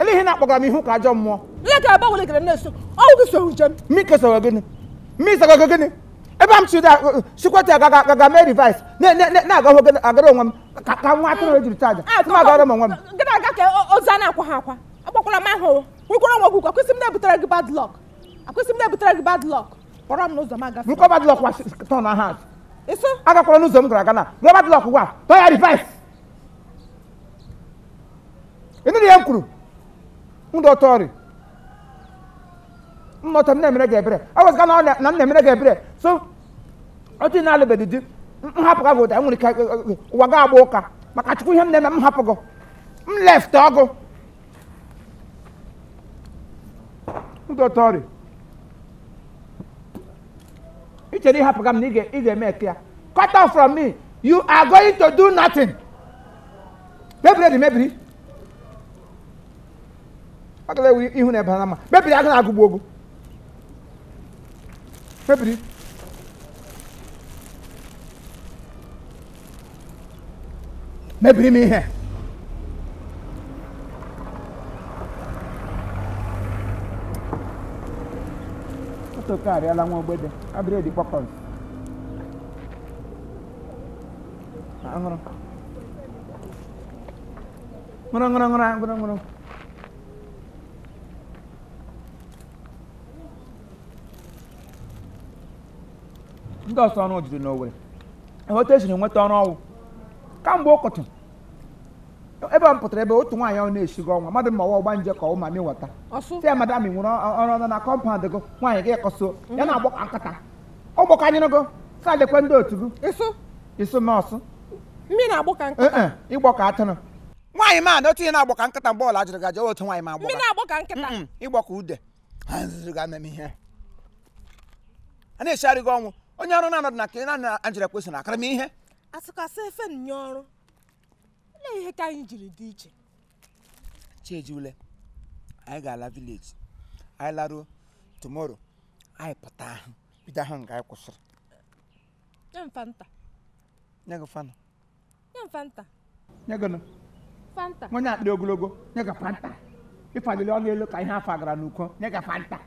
Ele ihe na-akpọgara m ihu ka ajọ mmụọ. Ihe ka ebe ọbụla ikere m na-eso, ọ bụ gị soro njem. M kesoro gịnị? M isoro gị gịnị? Ebe m chiri sikwata agaga agaga mee reverse na-agahụ agara onwe m ka nwa atụrụ ejiri chụọ aja. M agara m onwe m. Gị na-aga ka ozu a na-akwa ha akwa. Akwakwala m ahụ. Nwekwara nwa ọgwụgwọ ọkwa ị sị m na-ebutere gị bad luck. Ọkwa ị sị m na-ebutere gị bad luck. Pụọrọ m n'ụzọ m agafe. Burukwa bad luck wa turn aha. Ịsụ? Agakwala n'ụzọ m gara aga na. Buru bad luck wa turn ya reverse. ị nụrụ ihe m kwuru ndụ ọtọ ọrị nnọta m na-emere gị ebere ewezuga na ọ na- na m na-emere gị ebere so otu ị na-alụbeghị di m- m hapụ gị ugbua nwere ike ụwa gị agbaa ụka maka chukwu ihe m na-eme m hapụ gị m left ọgụ ndụ ọtọ ọrị ị chere ị hapụga m na ị ga- ị ga-eme eke ya cut off from me you are going to do nothing mebiri dị mebiri agala ewe ihu na ebe na mma mebiri agala agụgbu ogu mebiri mebiri m ihe otokarịala nwa ogbede abịrị dị kpọkọrọ ngụrụ ngụrụ ngụrụ ngụrụ ngụrụ ndị ọsọ ọrụ juru n'Owerri otu esiri nweta ọrụ ọ wụ kamgbe ụtụtụ ebe a m pụtara ebe otu nwaanyị ahụ na-esigo ọ wụ mmadụ ma ọ wụ ọgbanje ka ọ wụ mamịwata sị ya madam i nwere ọrụ ọnụ na compound gị nwaanyị gị kọso ya na-agbọ ka nkịta ọ gbọkanyere gị sa lekwa ndị otu gị ịsụ ịsụ nọọsụ m ri na-agbọ ka nkịta ị gbọ ka atụrụ nwaanyị ma na otu ihe na-agbọ ka nkịta mgbe ọla jụrụ gaje otu nwaanyị ma agbọ m ri na-agbọ ka nkịta ị gbọ ka ude ha nzuzu ga meme ihe a na-echegharị gị ọ wụ onye ọrụ na-anọdụ na ka ị na-anọ Angela kwesịrị na akara m ihe asịkasị efe onye ọrụ olee ihe ka anyị jiri dị iche chi jie ule anyị ga-ala village anyị laruo tomorrow anyị pụta ahụ bido ahụ nga anyị kwụsịrị nye m fanta nye gị fanta nye m fanta nye gị fanta nwa onye akpịrị ogologo nye gị fanta ịfalili ọnụ elu ka ihe a fagara n'uko nye gị fanta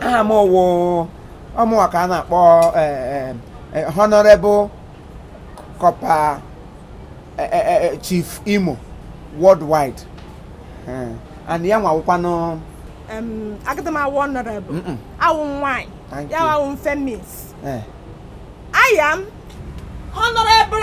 aha m wụ ọ mụwa ka a na-akpọ e, e, e, honorable corper chief imo worldwide and ya nwawụkwanụ agadi m awụ honorable awụ nwanyị ya awụ mfe miss I am honorable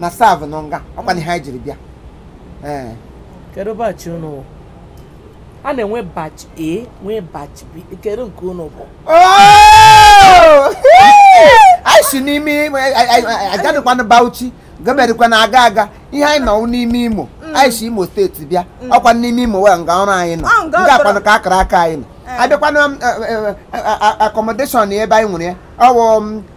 na-serve nọ nga ọkwa na ihe anyị jiri bịa ee kedu batch unu bụ a na-enwe batch a nwee batch b kedu nke unu bụ Oh! anyị si n'ime imo agadịkwana bauchi gọọmentịkwa na aga aga ihe anyị nọ n'ime imo anyị si imo steeti bịa ọkwa n'ime imo wee nga ọrụ anyị nọ Ọ, nga nga ọrụ. akwanụ ka akara aka anyị nọ abịakwana accommodation ebe anyị nwere ya ọwụ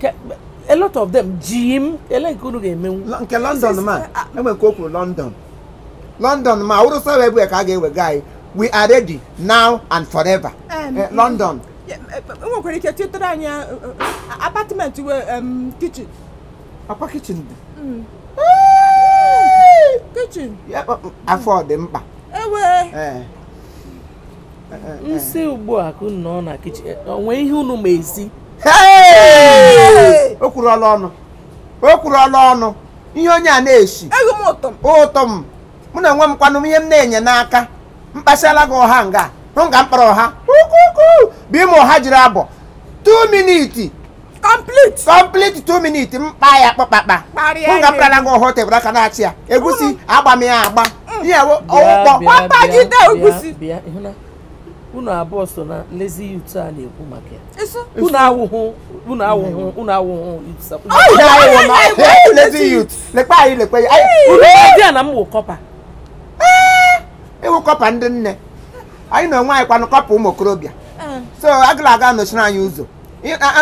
Ke- a lot of them ji m ele nke unu ga-emenwu Lọ- nke london Sis- ma ah. enwe nke o kwuru london london ma ọ wụrụ sawa ebue ka a ga-ewega anyị we are ready now and forever Em, Eh, london Ya, e- e- enwekwara ike chịtara anyị eh, eh, apartment we em, kitchen ọkwa kitchen dị Mm. kitchen Ya, ọ- afọ dị mkpa ewe Eh, nsị ugbu a ka unu nọ na kitchen onwe ihe unu ma esi o kwuru ọla ọnụ o kwuru ọla ọnụ ihe onye a na-esi ụtọ m mụ na onwe m kwanụ ihe m na-enye n'aka mkpasịala gị ọha nga hụ nga mkpara ọha ukwu ukwu bụ ime ọha jiri abụọ 2 minutes complete complete two minutes mkpa ya kpakpakpa Kparịa m gapụtara gị ọha table aka na-achị ya egusi agba m ya agba ihe ọwụkpọ gbapagide egusi unu abụọ so na lazy youth a na-ekwu maka ya unu awụhụ unu awụhụ unu awụhụ lazy youth lekwa anyị lekwa ya unu dị ya na m wụ corper ị wụ corper ndị nne anyị na onwe anyị kwanụ corper ụmụ okorobịa so agala aga nọchiri anyị ụzọ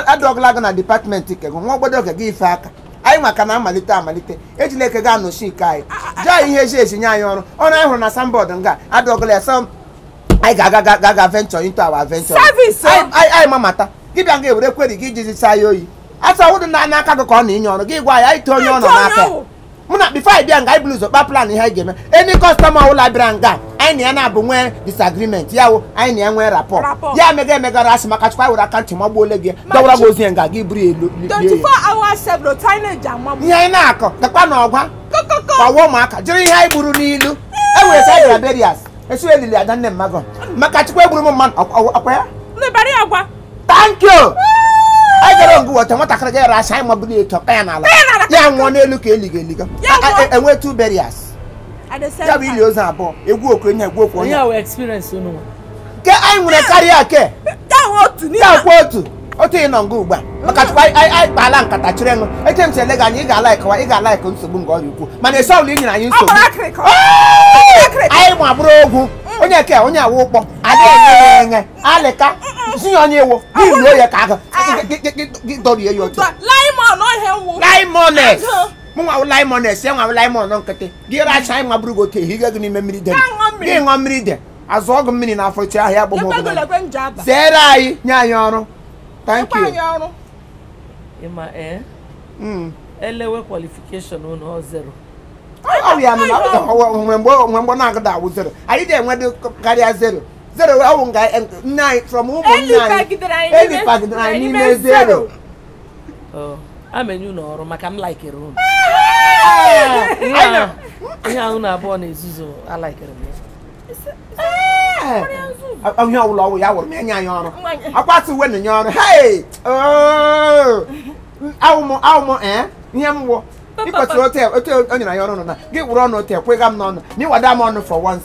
adọgala gị na department nke gị nwa obodo oge gị ife aka anyị maka na amalite amalite ejila nke gị anọchi nke anyị jaa ihe eji eji nye anyị ọrụ ọrụ anyị hụrụ na signboard nga adọgala ya sọ anyị ga-aga ga- ga- ga venture into our venture Service, oh. Anyị- anyị anyị mamata gị bịa ga ewere query gị iji saa ya oyi asa wụdị na n'aka gị ka ọ na-enye ọrụ gị gwa ya anyị too onye ọ nọ Too onye n'aka ya. ọ. mụ na before anyị bịa nga anyị bụrụ ụzọ kpa plan ihe anyị ga-eme any customer ọbụla bịara nga anyị na ya na-abụ nwee disagreement ya wụ anyị na ya nwee rapport Rapport. ya emega emegara asị maka chukwa were aka ntị magbuo ole gị Ma dọwara gị chi- ozi ya nga gị buru ya elu lie ya. 24 hours several teenage amagbu ihe anyị na-akọ gakwa na ọgwa kokoko kpọwa ụmụaka jiri ihe anyị gburu n'ilu e were sa bịara burials esi elili ada nne mmadụ maka chukwa egburu m mmadụ ọkwa- ọkwa ya lebara ya gwa thank you anyị gara Oguta nwatakịrị ga-ere asị anyị mabụrụ ya etu ọkpa ya n'ala Kpee n'ala. ya nwụọ n'elu ka eliga eliga Ya A- a- nwụọ. e- enwe two burials At the same ya bụ ili time. ozu abụọ egwu okwu onye egwu okwu onye Onye wee experience unu nwa. nke anyị nwere karịa ke Ya nwe otu n'ime. ya kwa otu otu ị nọ nga ugbu a maka chukwu anyị anyị- anyị kpaala nkata chịrị nụ eche m si ele gị anya ị ga-alikekwa ị ga-alike nsogbu nke ọrịa ukwu mana esi ọbụla i nyere anyị Ọ nsogbu gbara akịrịkọ. Ọ gbara akịrịkọ. anyị ma bụrụ ogwu onye ke onye awụ ụkpọ adịghị enye ya enye alịka si ya onye iwu gị ruo ya ka aka gị dọrie ya otu laimon ohe wụ laimones mụnwa wụ laimones ya nwa wụ laimon nkịtị gị racha anyị nwabụrụ gị otu ehiga gị n'ime mmiri de gị ṅụọ mmiri de azụ ọgụ mmiri n'afọ chi ahịa agbụghị ọbụla ekwegolekwe nje aba zeere anyị nye anyị ọrụ thank you anyị ọrụ ị ma ee Mm. e lewe qualification unu ọ zero ọ bụ ya nụ na ọ bụ ya, ọ bụ- mgbe mgbe ọ- mgbe mgbe ọ na-agụda awụ zero anyị na-enwe dị karịa zero zero ọwụ nga nne anyị from ụmụ nne anyị elipagidere anyị n'ime zero amenye unu ọrụ maka m laikere unu ihe ahụ na abụọ na-ezuzu alaikere m onye ọwụla ọwụ ya wụrụ m enye anyị ọrụ akwasị uwe na nye ọrụ awụmụ awụmụ ee ihe m wụ ịkwesịrị otu o nyere anyị ọrụ nọ na gị wụrụ ọnụ otu ekwega m n'ọnụ na ịwada m ọnụ for once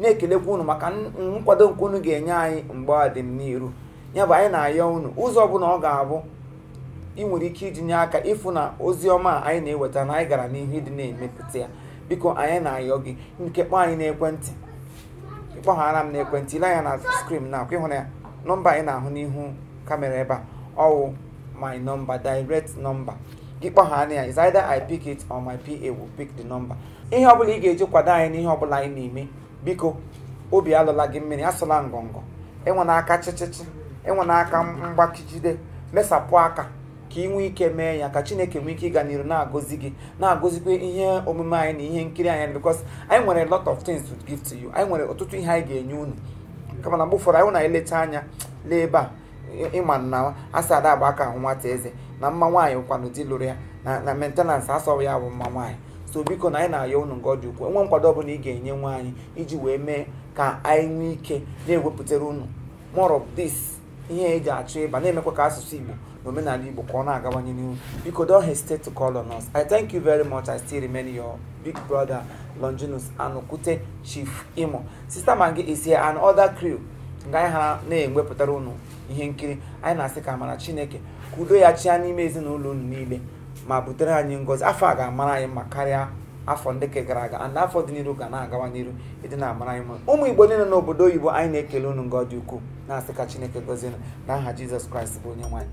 na-ekelekwa unu maka n- nkwado nke unu ga-enye anyị mgbe a dị n'iru ya bụ anyị na-ayọ unu ụzọ ọbụla ọ ga-abụ i nwere ike iji nye aka ịfụ na ozi ọma a anyị na-eweta na anyị gara n'ihu ịdị na-emepụta ya biko anyị na-ayọ gị ka ị kpọọ anyị n'ekwentị ị kpọghara m n'ekwentị i lee anya na screen na ọkwa ị hụrụ ya nọmba anyị na-ahụ n'ihu camera ebe a ọwụ my number direct number gị kpọghara ya is either i pick it or my pa will pick the number ihe ọbụla ị ga-eji kwado anyị n'ihe ọbụla anyị na-eme biko obi alọla gị mmiri asụla ngọngọ enwena aka chịchịchị enwena aka mgbakijide mesapụ aka ka i nwee ike mee ya ka chineke nwee ike ịga n'iru na-agọzi gị na-agọzikwa ihe omume anyị na ihe nkiri anyị because anyị nwere a lot of things to give to you anyị nwere ọtụtụ ihe anyị ga-enye unu kama na mgbe ụfọdụ anyị na-eleta anya lee ebe a ị ma na a sị ada agba aka ahụ nwata eze na mma nwaanyị wụkwanụ di lụrụ ya na na maintenance asọghị ya bụ mma nwaanyị so biko na anyị na-ayọ unu nke ọ dị ukwuu e nwee nkwado ọbụla ị ga-enyenwu anyị iji wee mee ka anyị nwee ike na-ewepụtara unu more of this ihe eji achọ ịba na-emekwa ka asụsụ igbo na omenala igbo ka ọ na-agawanye n'ihu biko don't hesitate to call on us i thank you very much i still remain your big brother longinus anokwute chief imo sister maggi is here and other crew nga anyị ha na-ewepụtara unu ihe nkiri anyị na-asị ka amara chineke ka udo ya chịa n'ime ezinụlọ unu niile ma butere anyị ngọzi afọ a ga-amara anyị mma karịa afọ ndị nke gara aga and afọ dị n'iru ga na-agawa n'iru ịdị na-amara anyị mma ụmụ igbo niile n'obodo oyibo anyị na-ekele unu nga ọ dị ukwuu na-asị ka chineke gọzie unu n'aha jizọs kraịst bụ onyenwe anyị